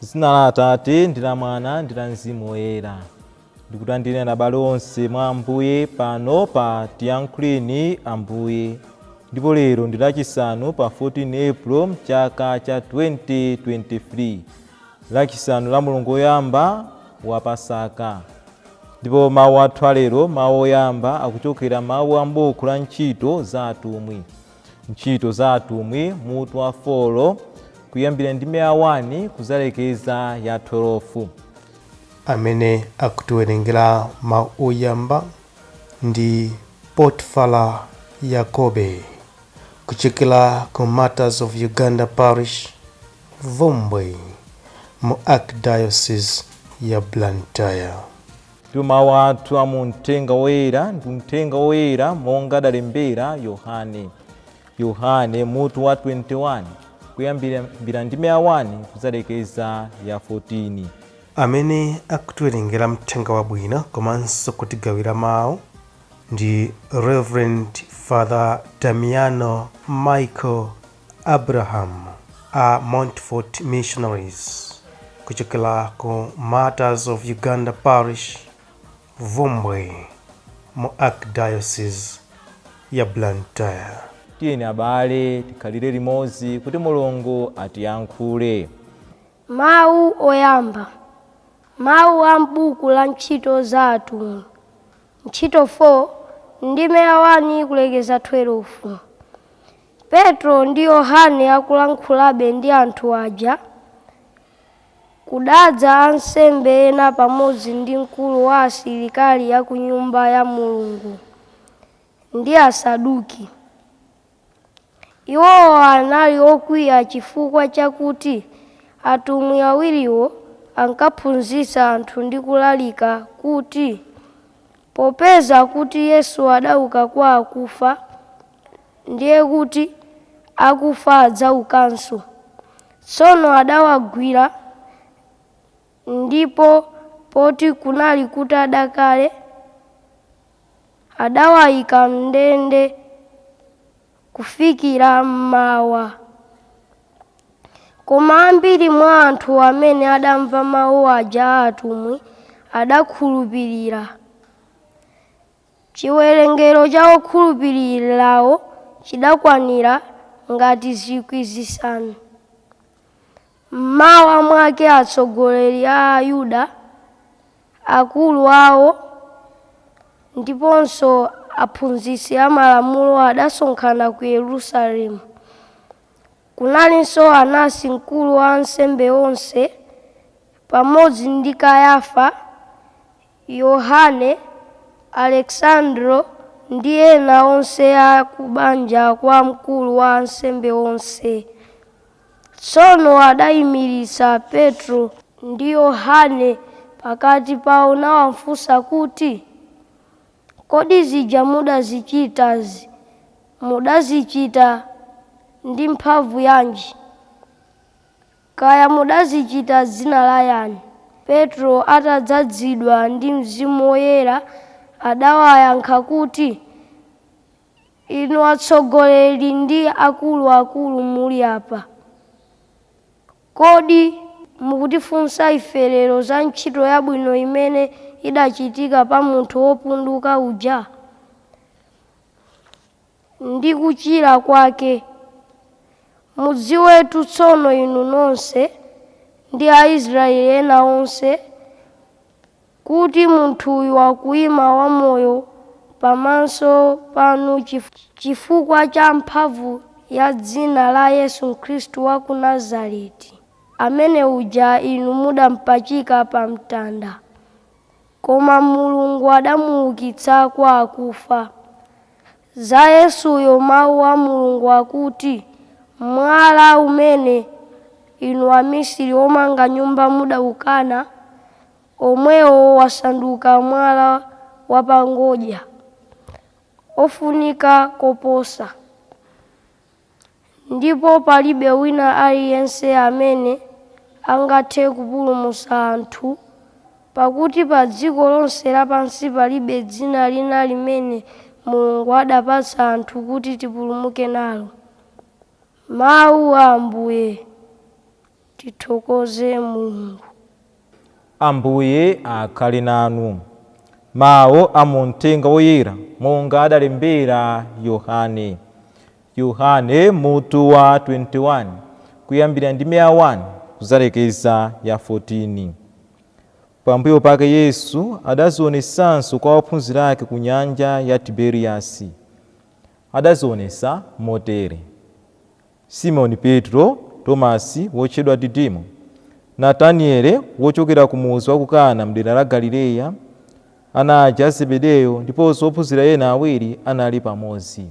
zina la atate ndi la mwana ndi la mzimu woyera ndikulandireni abale onse mwa ambuye pano pa tiyankhuleni ambuye ndipo lero ndi lachisanu pa 14 april mchaka cha 2023 Lachisanu la mulungu woyamba wa Pasaka. Ndipo mawu athu alero, mawu oyamba akuchokera mawu a m'buku la ntchito za atumwi. Ntchito za atumwi mutu wa 4 kuyambira ndime ya 1 kuzalekeza ya 12. Amene akutiwerengera mawu oyamba ndi Potfala Yakobe kuchokera ku Martyrs of Uganda Parish Bvumbwe mu Archdiocese ya Blantyre. Ndipo mawu athu a mu Mthenga Woyera ndi Mthenga Woyera monga adalembera Yohane. Yohane mutu wa 21 kuyambira ndime ya 1 kudzalekeza ya 14. Amene akutiwerengera Mthenga Wabwino komanso kutigawira mawu ndi Reverend Father Damiano Michael Abraham a Montfort Missionaries kuchokera ku Martyrs of Uganda Parish, Bvumbwe mu Archdiocese ya Blantyre. Tiyeni abale tikhalire limodzi kuti Mulungu atiyankhule. Mawu oyamba, mawu a m'buku la Ntchito za Atumwi, ntchito 4, ndime ya 1 kulekeza 12. Petro ndi Yohane akulankhulabe ndi anthu aja, kudadza ansembe ena pamodzi ndi mkulu wa asilikali a ku Nyumba ya Mulungu, ndi Asaduki. Iwowo anali okwiya chifukwa chakuti atumwi awiriwo ankaphunzitsa anthu ndi kulalika kuti Popeza kuti Yesu adauka kwa akufa, ndiye kuti akufa adzaukanso. Tsono adawagwira, ndipo poti kunali kutada kale, adawaika m'ndende. kufikira m'mawa. Koma ambiri mwa anthu amene adamva mawu aja a atumwi adakhulupirira. Chiwerengero cha okhulupirirawo chidakwanira ngati zikwi zisanu. M'mawa mwake atsogoleri a Ayuda Akulu awo ndiponso aphunzitsi amalamulo adasonkhana ku Yerusalemu. Kunalinso Anasi mkulu wa ansembe onse, pamodzi ndi Kayafa, Yohane, Aleksandro ndi ena onse a kubanja kwa mkulu wa ansembe onse. Tsono adaimiritsa Petro ndi Yohane pakati pao nawafunsa kuti, Kodi zija mudazichitazi, mudazichita ndi mphamvu yanji? Kaya mudazichita m'dzina la yani? Petro atadzazidwa ndi Mzimu Woyera, adawayankha kuti, Inu atsogoleri ndi akuluakulu muli apa, kodi mukutifunsa ife lero za ntchito yabwino imene idachitika pa munthu wopunduka uja, ndi kuchira kwake? Mudziwetu tsono inu nonse, ndi Aisraeli ena onse, kuti munthuyu akuima wamoyo pamaso panu chifukwa cha mphamvu ya dzina la Yesu Khristu wa ku Nazareti, amene uja inu mudampachika pamtanda. Koma Mulungu adamuukitsa kwa akufa. Za Yesuyo mau a Mulungu akuti, Mwala umene inu amisiri omanga nyumba mudaukana, omwewo wasanduka mwala wapangodya ofunika koposa, ndipo palibe wina aliyense amene angathe kupulumutsa anthu, pakuti pa dziko lonse lapansi palibe dzina lina limene Mulungu adapatsa anthu kuti tipulumuke nalo. Mawu a Ambuye. Tithokoze Mulungu. Ambuye akhale nanu. Mau a mu Mthenga Woyera monga adalembera Yohane. Yohane, mutu wa 21, kuyambira ndime ya 1 kudzalekeza ya 14. Pambuyo pake Yesu adadzionetsanso kwa ophunzira ake ku nyanja ya Tiberiasi. Adadzionetsa motere. Simoni Petro, Tomasi, wotchedwa Didimo, Nataniele, wochokera ku mudzi wa ku Kana m'dera la Galileya, ana aja a Zebedeyo ndiponso ophunzira ena awiri anali pamodzi.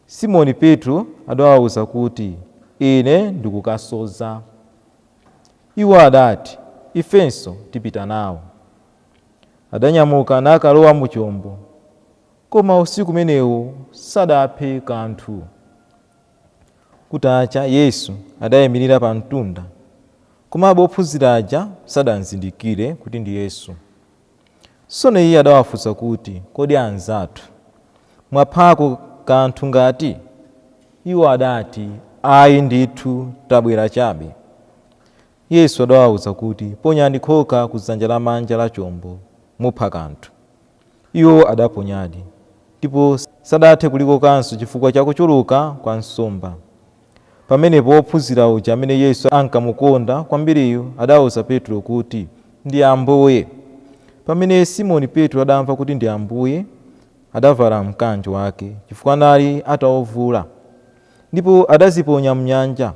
Simoni Petro adawauza kuti, Ine ndikukasodza. Iwo adati, Ifenso tipita nawo. Adanyamuka nakalowa mu chombo. Koma usiku umenewo sadaphe kanthu. Kutacha, Yesu adaimirira pa mtunda, komabe ophunzira aja sadamzindikire kuti ndi Yesu. Tsono Iye adawafunsa kuti, Kodi anzathu, mwaphako kanthu ngati? Iwo adati, Ai ndithu, tabwera chabe. Yesu adawauza kuti, Ponyani khoka ku dzanja lamanja la chombo, mupha kanthu. Iwo adaponyadi, ndipo sadathe kulikokanso chifukwa cha kuchuluka kwa nsomba. Pamenepo wophunzira uja amene Yesu ankamukonda kwambiriyu adauza Petro kuti, Ndi Ambuye! Pamene Simoni Petro adamva kuti ndi Ambuye, adavala mkanjo wake, chifukwa anali atauvula, ndipo adaziponya m'nyanja.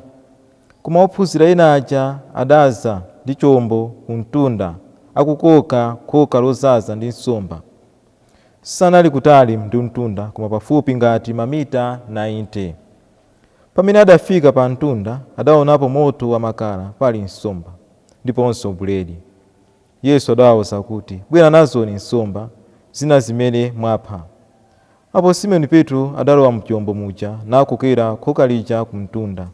Koma ophunzira ena aja adadza ndi chombo kumtunda, akukoka khoka lodzaza ndi nsomba. Sanali kutali ndi mtunda, koma pafupi ngati mamita 90. Pamene adafika pa mtunda, adaonapo moto wamakala, pali nsomba, ndiponso buledi. Yesu adawauza kuti, Bwera nazoni nsomba zina zimene mwapha. Apo Simoni Petro adalowa m'chombo muja, nakokera khoka lija kumtunda,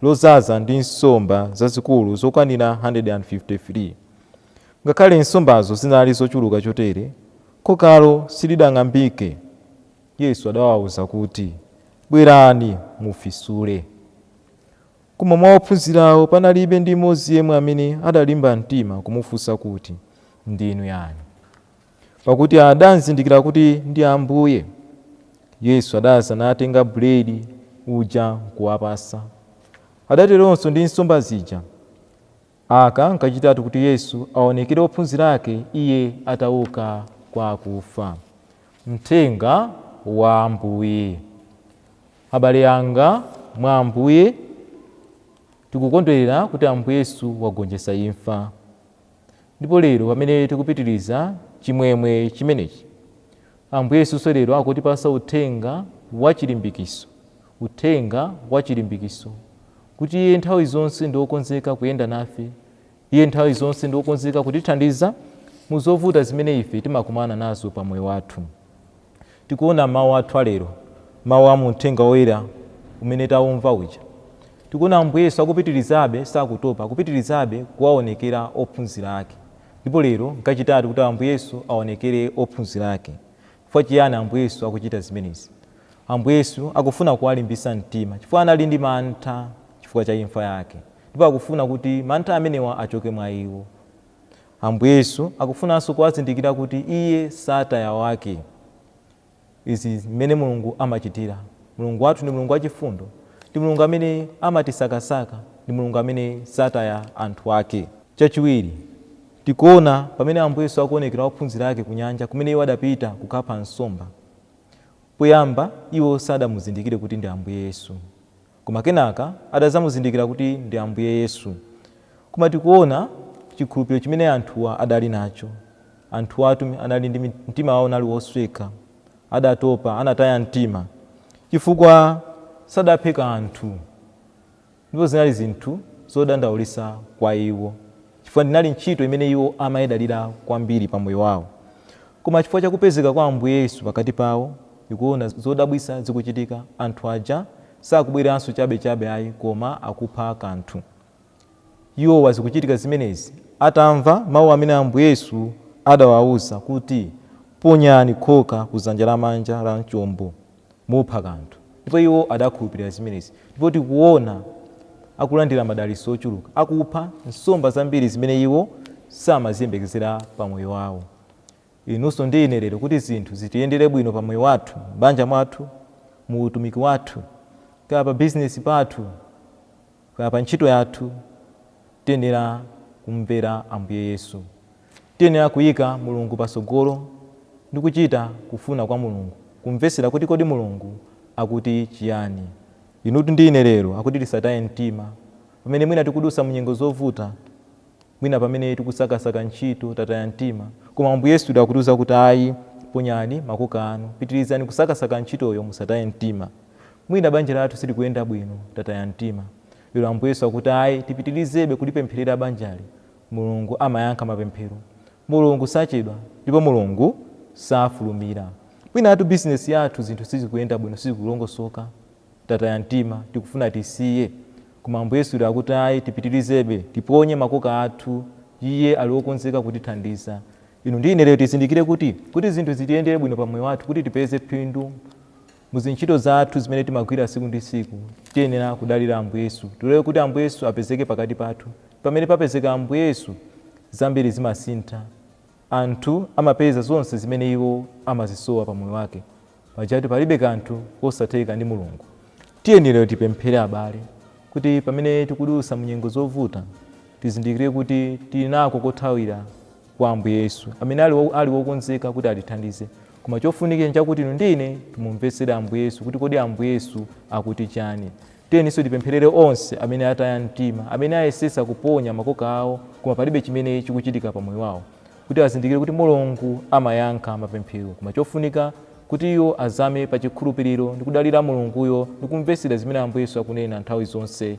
lodzaza ndi nsomba zazikulu zokwanira 153. Ngakhale nsombazo zinali zochuluka chotere, khokalo silidang'ambike. Yesu adawauza kuti, Bwerani, mufisule. Koma mwa ophunzirawo panalibe ndi mmodzi yemwe amene adalimba mtima kumufunsa kuti, Ndinu yani? Pakuti adamzindikira kuti ndi Ambuye. Yesu adadza natenga buledi uja nkuwapatsa. Adateronso ndi nsomba zija. Aka nkachitatu kuti Yesu aonekere ophunzira ake Iye atauka kwa akufa. Mthenga wa Ambuye. Abale anga mwa Ambuye, tikukondwerera kuti Ambuye Yesu wagonjetsa imfa. Ndipo lero pamene tikupitiriza chimwemwe chimenechi, Ambuye Yesunso lero akutipasa uthenga wa chilimbikiso, uthenga wa chilimbikiso, kuti Iye nthawi zonse ndi okonzeka kuyenda nafe, Iye nthawi zonse ndi okonzeka kutithandiza mu zovuta zimene ife timakumana nazo pa moyo wathu. Tikuona m'mawu athu a lero, mawu a mu Uthenga Woyera umene taumva uja. Tikuona Ambuye Yesu akupitirizabe, sakutopa, akupitirizabe kuwaonekera ophunzira ake. Ndipo lero nkachitatu kuti Ambuye Yesu aonekere ophunzira ake. Chifukwa chiyani Ambuye Yesu akuchita zimenezi? Ambuye Yesu akufuna kuwalimbitsa mtima chifukwa anali ndi mantha chifukwa cha imfa yake. Ndipo akufuna kuti mantha amenewa achoke mwa iwo. Ambuye Yesu akufunanso kuwazindikira kuti Iye sataya wake. Izi mmene Mulungu amachitira. Mulungu wathu ndi Mulungu wachifundo. Ndi Mulungu amene amatisakasaka. Ndi Mulungu amene sataya anthu ake. Chachiwiri, tikuona pamene Ambuye Yesu akuonekera ophunzira ake kunyanja kumene iwo adapita kukapha nsomba. Poyamba iwo sadamuzindikire kuti ndi Ambuye Yesu. Koma kenaka adazamuzindikira kuti ndi Ambuye Yesu. Koma tikuona chikhulupiliro chimene anthuwa adali nacho. Anthuwatu anali ndi mtima wawo unali wosweka, adatopa, anataya mtima chifukwa sadaphe kanthu ndipo zinali zinthu zodandaulitsa kwa iwo. chifukwa idali ntchito imene iwo amaidalira kwambiri pa moyo wawo. Koma chifukwa cha kupezeka kwa Ambuye Yesu pakati pawo, tikuona zodabwitsa zikuchitika, anthu aja sakubweranso chabe chabe ayi koma akupha kanthu. Iwowa zikuchitika zimenezi atamva mau amene Ambuye Yesu adawauza kuti, Ponyani khoka ku dzanja lamanja la chombo. mupha kanthu. Ndipo iwo adakhulupirira zimenezi. Ndipo tikuona akulandira madalitso ochuluka akupha nsomba zambiri zimene iwo samaziyembekezera pa moyo wawo. Inunso ndi ine lero kuti zinthu zitiyendere bwino pa moyo wathu, m'banja mwathu, mu utumiki wathu, kaya pa bizinesi pathu, Kaya pa ntchito yathu, tiyenera kumvera Ambuye Yesu. Tiyenera kuika Mulungu patsogolo ndi kuchita kufuna kwa Mulungu, kumvetsera kuti kodi Mulungu akuti chiyani. Inutu ndi ine lero akuti tisataye mtima. Pamene mwina tikudutsa mu nyengo zovuta, mwina pamene tikusakasaka ntchito, tataya mtima, koma Ambuye Yesu akutiuza kuti ayi, ponyani makoka anu, pitirizani kusakasaka ntchitoyo musataye mtima. Mwina banja lathu silikuyenda bwino, tataya mtima. Lero Ambuye Yesu akuti ayi, tipitirizebe kulipempherera banjali. Mulungu amayankha mapemphero. Mulungu sachedwa ndipo Mulungu safulumira. Mwinatu bizinesi yathu zinthu sizikuyenda bwino, sizikulongosoka. Tataya mtima, tikufuna tisiye. Koma Ambuye Yesu lero akuti ayi, tipitirizebe, tiponye makoka athu. Iye ali wokonzeka kutithandiza. Inu ndi ine lero tizindikire kuti, kuti zinthu zitiyendere bwino pa moyo wathu, kuti tipeze phindu, Mu zintchito zathu zimene timagwira tsiku ndi tsiku, tiyenera kudalira Ambuye Yesu. Tilole kuti Ambuye Yesu apezeke pakati pathu. Pamene papezeka Ambuye Yesu, zambiri zimasintha. Anthu amapeza zonse zimene iwo amazisowa pa moyo wake. Pajatu palibe kanthu kosatheka ndi Mulungu. Tiyeni lero tipemphere abale kuti pamene tikudutsa mu nyengo zovuta, tizindikire kuti tili nako kothawira kwa Ambuye Yesu, amene ali wokonzeka kuti atithandize. Koma chofunikira nchakuti inu ndi ine timumvetsere Ambuye Yesu kuti kodi Ambuye Yesu akuti chani. Tiyeninso tipempherere onse amene ataya mtima, amene ayesetsa kuponya makoka awo koma palibe chimene chikuchitika pa moyo wawo, kuti azindikire kuti Mulungu amayankha mapemphero. Koma chofunika kuti iwo azame pa chikhulupiriro ndi kudalira Mulunguyo ndi kumvetsera zimene Ambuye Yesu akunena nthawi zonse